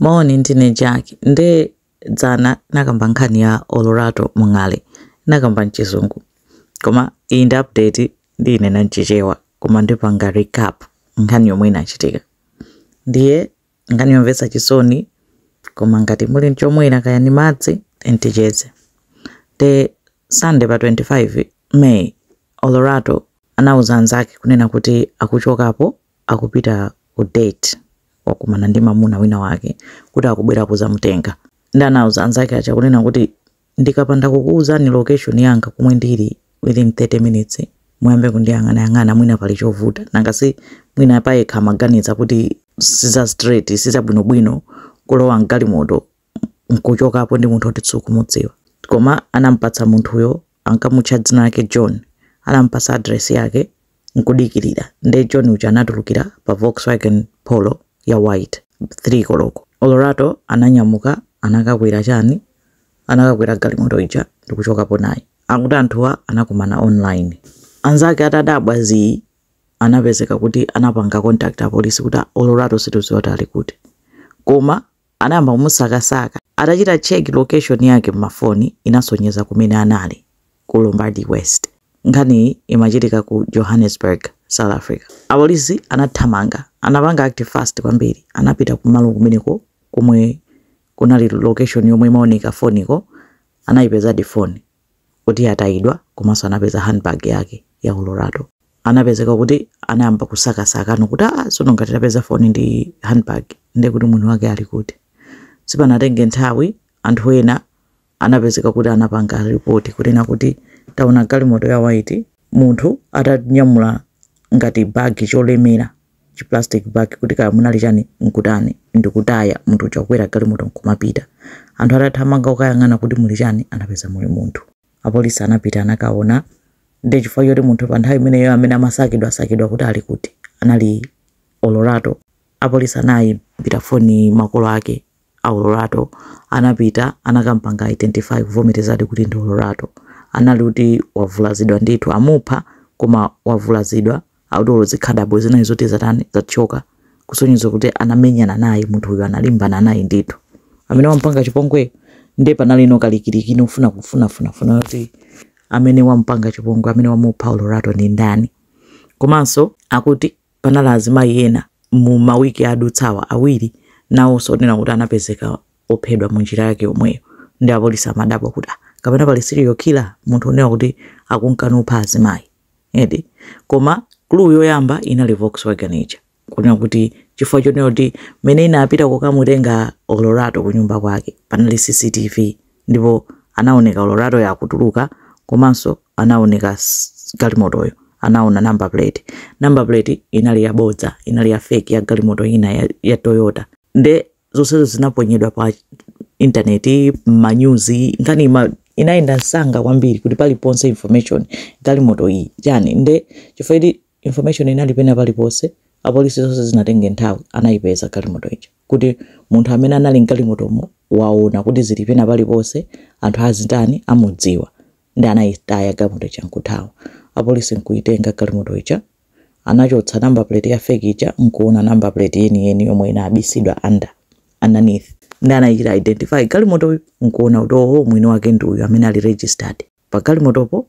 Moni, ndine Jack. Nde dzana ndinakamba nkhani ya Olorato Mongale. Ndinakamba mchizungu. Koma iyi ndi update ndiinena mchichewa. Koma ndipanga recap nkhani yomwe inachitika. Ndiye nkhani yomvetsa chisoni koma ngati muli nchomwera kaya ni madzi eni ticheze. Nde Sunday pa 25 May Olorato anauza anzake kunena kuti akuchokapo akupita ku date wakumana ndi mamuna wina wake kuti akubwera kuzamutenga ndi anauza anzake aja kunena kuti ndikapanda kukuuzani location yanga komwe ndili within 30 minutes muyambe kundiyang'anayang'ana mwina pali chovuta nanga si mwina payekha amaganiza kuti siza straight siza bwinobwino kulowa mgalimoto nkuchokapo ndi munthu oti sukumudziwa koma anampatsa munthuyo ankamutcha dzina lake john anampatsa adresi yake nkudikirira nde john uja anatulukira pa volkswagen polo ya white 3 koloko olorato ananyamuka anakakwera chani anakakwera galimoto ija ndikuchokapo naye akuti anthuwa anakumana online anzake atadabwa zii anapezeka kuti anapanga contact apolisi kuti olorato situziwa kuti ali kuti koma Anayamba kumusakasaka. Atachita check location yake m'mafoni inasonyeza kumene anali, ku Lombardy West. Nkhaniyi imachitika ku Johannesburg, South Africa. Apolisi anathamanga. Anapanga act fast kwambiri. Anapita kumalo kumeneko komwe kunali location yomwe imaoneka m'foniko. Anaipezadi foni. kuti yatayidwa komanso anapeza handbag yake ya Olorato. Anapezeka kuti anayamba kusakasaka no kuti aa ah, sono ngati tapeza foni ndi handbag ndiye kuti mwini wake ali kuti. Sipanatenge nthawi anthu ena anapezeka kuti anapanga ripoti kunena kuti taona galimoto ya white munthu atanyamula ngati bagi cholemera chi plastic bag kuti kaya munali chani nkutani ndikutaya munthu uja kukwera galimoto nkumapita. Anthu atathamanga kukayang'ana kuti muli chani anapeza muli munthu. Apolisi anapita anakaona nde chifukwa choti munthu pa nthawi imeneyo amene amasakidwa sakidwa kuti ali kuti anali olorato apolisi anayimbira foni makolo ake a Olorato anapita anakampanga identify kuvomerezadi kuti ndi Olorato anali kuti wavulazidwa ndithu amupha koma wavulazidwa akuti olo zikhadabo zinali zoti zatani zathyoka kusonyeza kuti anamenyana naye munthu uyu analimbana naye ndithu amene wampanga chipongweyo nde panali no kalikiliki ofuna kufuna funa funa kuti amene wampanga chipongwe amene wamupha Olorato ndi ndani komanso akuti Panali azimayi ena mu ma week adutsawa awiri nawonso onena kuti anapezeka ophedwa mu njira yake yomweyo nde apolisi amadabwa kuti ah kapena pali serial killer munthu onena kuti akunka napha azimayi eti koma clue yoyamba inali Volkswagen ija kunena kuti chifukwa chonena kuti mene inapita kokamutenga Olorato kunyumba kwake panali CCTV Ndipo anawoneka Oloratoyo akutuluka, komanso anawoneka galimotoyo, anawona namba puleti. Namba puleti inali yabodza, inali ya feki, ya galimoto ina ya, ya Toyota. Nde zonsezo zinaponyedwa pa intaneti, m'manyuzi, nkhani inayenda msanga kwambiri kuti paliponse information galimoto iyi chani nde chifukwa Information inali pena paliponse, apolisi sizinatenge nthawi anayipeza galimoto ija kuti munthu amene anali m'galimotomo waona kuti zili pena paliponse, anthu azitani amudziwa nde anayitaya galimoto ija nkuthawa. Apolisi nkuyitenga galimoto ija anachotsa number plate ya fake ija nkuona number plate yeniyeni yomwe inabisidwa under, underneath nde anayichita identify galimotoyo nkuona kuti ooh mwini wake ndi uyu amene ali registered. Pagalimotopo,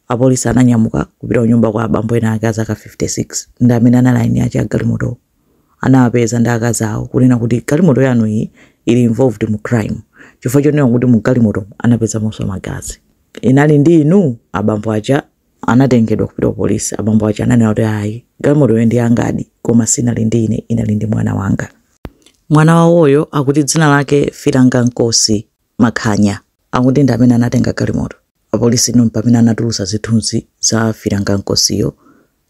apolisi ananyamuka kupita kunyumba kwa abambo ena ake a zaka 56 ndi amene anali eni ake a galimotowo. Anawapeza ndi akazi awo kunena kuti galimoto yanu iyi ili involved mu crime chifukwa chonena kuti mu galimotomu anapezamonso magazi. Inali ndi inu? Abambo aja anatengedwa kupita ku polisi. Abambo aja ananena kuti ayi, galimotoyo ndi yangadi koma sinali ndi ine, inali ndi mwana wanga. Mwana wawoyo akuti dzina lake Philangenkosi. Makhanya akuti ndi amene anatenga galimoto. Apolisi ndi pamene anatulutsa zithunzi za Philangenkosiyo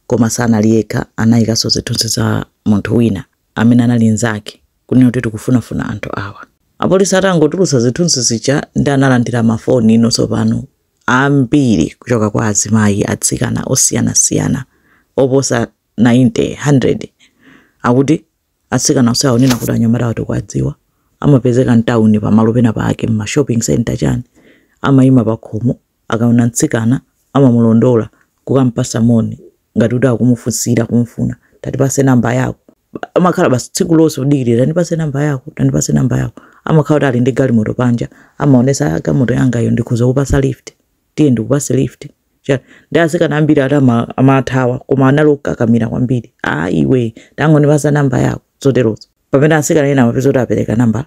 koma sanali yekha anayikanso zithunzi za munthu wina amene anali nzake kunena kuti tikufunafuna anthu awa. Apolisi atangotulutsa zithunzi zija nde analandira ma phone-nso tsopano ambiri kuchoka kwa azimayi, atsikana osiyana siyana oposa 90, 100 akuti Atsikana onse aonena kuti anyamatawa tikuwadziwa, amapezeka m'tauni pamalo pena pake, m'ma shopping centre chani, amaima pakhomo, akaona mtsikana amamulondola kukampatsa moni ngati kuti akumufunsira, kumufuna, tatipase number yako. Amakhala basi tsiku lonse kudikirira, tandipase number yako, tandipase number yako. Amakhala kuti ali ndi galimoto panja, amaonetsa, ah, galimoto yangayo, ndikhoza kukupatsa lift. tiye ndikupatse lift Cha- nde atsikana ambiri ati ama- amathawa koma anali okakamira kwambiri a iwe tangondipatsa namba yako zoterozo pamene atsikana ena amapezeka kuti apereka namba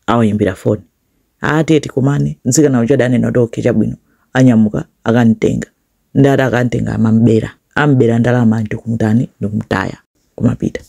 awayimbira foni ati tiye tikumane mtsikana uja adanena kuti okay chabwino anyamuka akamtenga nde ati akamtenga amambera ambera ndalama ndikumtani ndikumtaya kumapita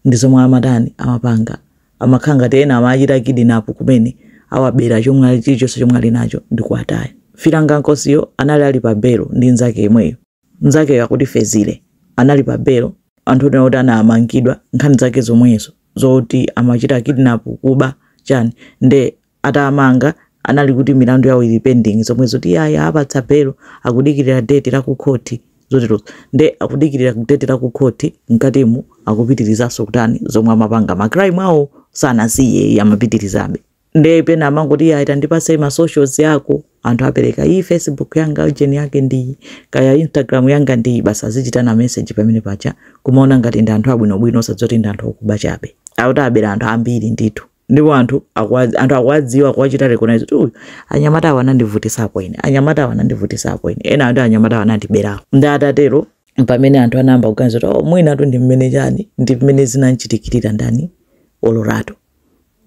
ndi zomwe amatani amapanga amakhala ngati ena amachita kidnap kumene awabera chomwe ali- chilichonse chomwe ali nacho ndi kuwataya Philangenkosiyo anali ali pa belo ndi nzake yemweyo nzakeyo akuti fezile anali pa belo onse akuti anamangidwa nkhani zake zomwezo zoti amachita kidnap kuba chani nde atamanga anali kuti milandu yawo ili pending zomwe zoti ayi awapatsa belo akudikirira date la ku court zoterozo nde akudikirira date la ku court mkatimu akupitirizanso kutani zomwe amapanga ma crime awo sanasiye amapitirizabe nde pena amangoti ayi tandipatse ma socials yako anthu kupereka iyi facebook yanga ujeni yake ndiyi kaya instagram yanga ndiyi basi azichitana message pamenepaja kumaona ngati ndi anthu abwinobwino osadziwa kuti ndi anthu okuba chabe akuti awabera anthu ambiri ndithu ndipo anthu akuwa- anthu akuwadziwa akuwachita recognize kuti uyu anyamata awa anandivutisapo ine anyamata awa anandivutisapo ine ena ati anyamata awa anandiberapo nde atatero mpamene anthu anayamba kuganiza kuti oh, mwinatu ndi mmene chani ndi mmene zinamchitikirira ndani olorato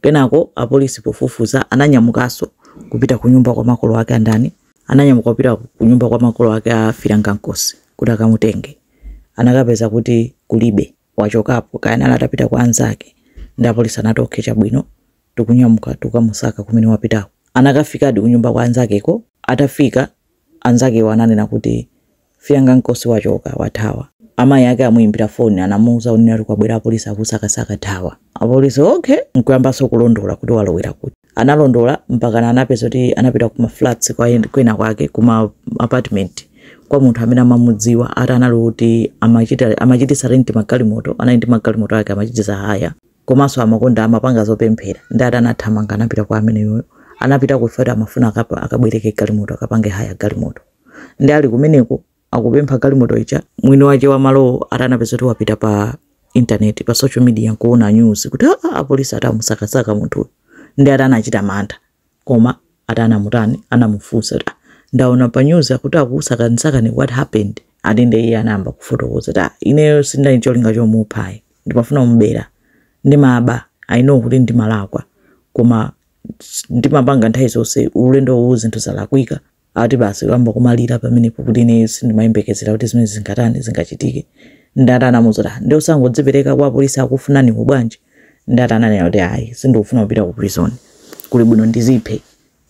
kenako apolisi pofufuza ananyamukanso kupita ku nyumba kwa makolo ake a ndani ananyamuka kupita ku nyumba kwa makolo ake a Philangenkosi kuti akamutenge anakapeza kuti kulibe wachokapo kaya anali atapita kwa anzake nde apolisi anati okay chabwino tikunyamuka tikukamusaka kumene wapitako anakafikadi kunyumba kwa anzakeko atafika anzakewo ananena kuti Philangenkosi wachoka wathawa amayi ake amuyimbira foni amuuza kunena kuti kwabwera apolisi akusakasaka thawa apolisi okay nkuyambanso kulondola kuti walowera kuti analondola mpakana anapeza kuti anapita ku maflats kwa en- kwina kwake kuma apartment kwa munthu amene amamudziwa ati anali kuti amachita amachititsa rent magalimoto anali ndi magalimoto ake amachititsa hire komanso amakonda amapanga zopemphera nde ati anathamanga anapita kwa ameneyoyo anapita kuflat amafuna akapa- akabwereke galimoto akapange hire galimoto nde ali kumeneko akupempha galimoto ija mwini wake wa malowo ati anapeza kuti wapita pa intaneti pa social media nkuona news kuti aa ah, ah, apolisi ati akumusakasaka munthuyu nde ati anachita mantha koma ati anamutani anamufunsa kuti ah, ndaona pa news akuti akukusakasakani what happened ati nde iye anayamba kufotokoza kuti ineyo sindali cholinga chomuphayi ndimafuna kumubera ndimaba i know kuti ndimalakwa koma ndimapanga nthawi zonse ulendo uno zinthu zalakwika Ati basi kuyamba kumalira pamenepo kuti ineyo sindimayembekezera kuti zimenezi zingatani zingachitike. Nde ati anamuuza kuti, "Ah, nde osangodzipereka kwa apolisi akufunaniwo bwanji? Nde ati ananena kuti, ayi, sindikufuna kupita ku prison. Kuli bwino ndiziphe.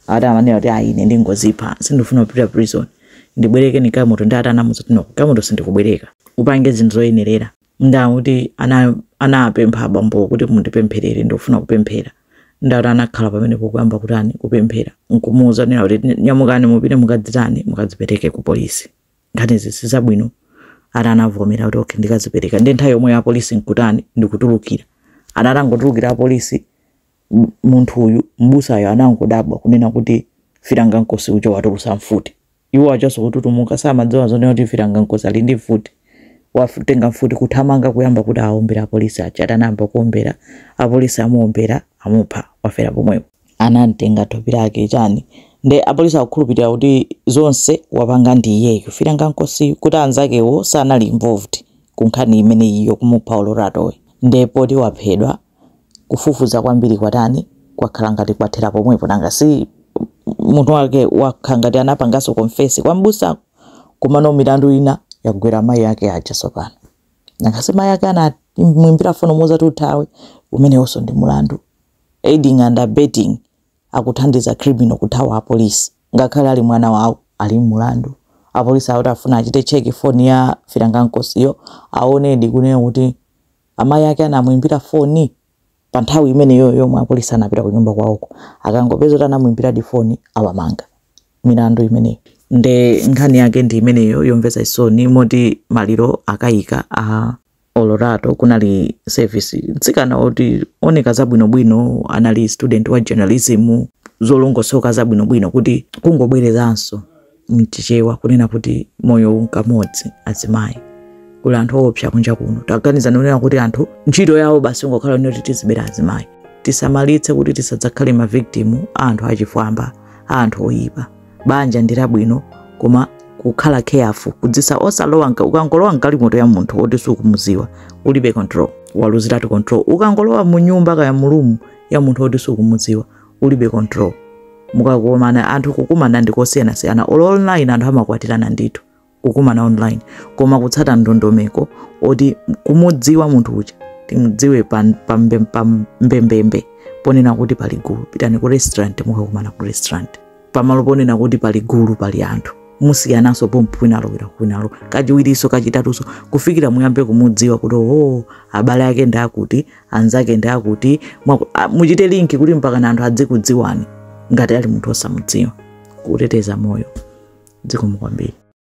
Ati amanena kuti, ayi, ine ndingozipha. Sindikufuna kupita prison. Ndibwerekeni galimoto. Nde ati anamuuza kuti, no, galimoto sindikubwereka. Upange zinthu zoyenerera. Nde akuti ana anapempha abambo kuti mundipempherere ndikufuna kupemphera nde ati anakhala pamenepo kuyamba kutani kupemphera nkumuuza nena kuti nyamukani mupite mukadzitani mukadzipereke ku polisi nkhani izi sizabwino ati anavomera kuti okay ndikazipereka ndi nthawi yomweyo apolisi nkutani ndikutulukira ana atangotulukira apolisi m- munthu uyu m'busayo anangodabwa kunena kuti Philangenkosi uja watulusa mfuti Iwo achitanso kututumuka samadziwa zonena kuti Philangenkosi ali ndi mfuti. Watenga mfuti kuthamanga kuyamba kuti aombere apolisi aja. Ati anayamba kuombera, apolisi amuombera, amupha, wafera pomwepo. Anamtenga thupi lake chani nde apolisi akukhulupilira kuti zonse wapanga ndi iyeyu Philangenkosiyu kuti anzakewo sanali involved ku nkhani imeneyi yokumupha Oloratoyi nde poti waphedwa. kufufuza kwambiri kwatani kwakhala ngati kwathera pomwepo nanga si munthu wake wakhala ngati anapanganso confess kwa m'busa komano milandu ina yagwera mayi ake aja tsopano nanga si mayi ake anamwimbira foni kumuuza kuti uthawe umenewonso ndi mulandu aiding and abetting akuthandiza criminal kuthawa apolisi ngakhale ali mwana wawo ali mulandu apolisi akuti afuna achite check foni ya Philangenkosi aonedi kunena kuti Amayi ake anamuimbira foni pa nthawi imeneyoyo yomwe apolisi anapita kunyumba kwawoko. Akangopeza kuti anamuimbiradi foni, awamanga. Milandu imeneyo. Nde nkhani yake ndi imeneyo yomvetsa chisoni moti maliro akaika a Olorato kunali service. Mtsikana woti wooneka zabwinobwino anali student wa journalism zolongosoka zabwinobwino kuti kungobwerezanso. m'Chichewa kunena kuti moyo unkamodzi azimayi kuli anthu oopsa kunja kuno taganizani kunena kuti anthu ntchito yawo basi ngokhala ino kuti tizibera azimayi tisamalitse kuti tisadzakhale mavictim a anthu achifwamba a anthu oyipa banja ndi labwino koma kukhala careful kudzisa osalowa nka- ukangolowa mgalimoto ya munthu woti sukumuziwa ulibe control waluziratu control ukangolowa mu nyumba kaya mu room ya munthu woti sukumuziwa ulibe control mukakomana anthu kukumana ndi kosiyanasiyana olo online anthu amakwatirana ndithu kukumana online koma kutsata ndondomeko oti kumudziwa munthu uja timudziwe pa pa mbe- pa mbembembe ponena kuti pali gulu pitani ku restaurant mukakumana ku restaurant pamalo ponena kuti pali gulu pali anthu musiyananso pompo kwinalo kwina kwinalo kachiwirinso kachitatunso kufikira muyambe kumudziwa kuti oo abale ake ndi akuti anzake ndi akuti mwaku- a- muchite link kuti mpakana anthu adzikudziwani ngati ali munthu osamudziwa kuteteza moyo zikomo kwambiri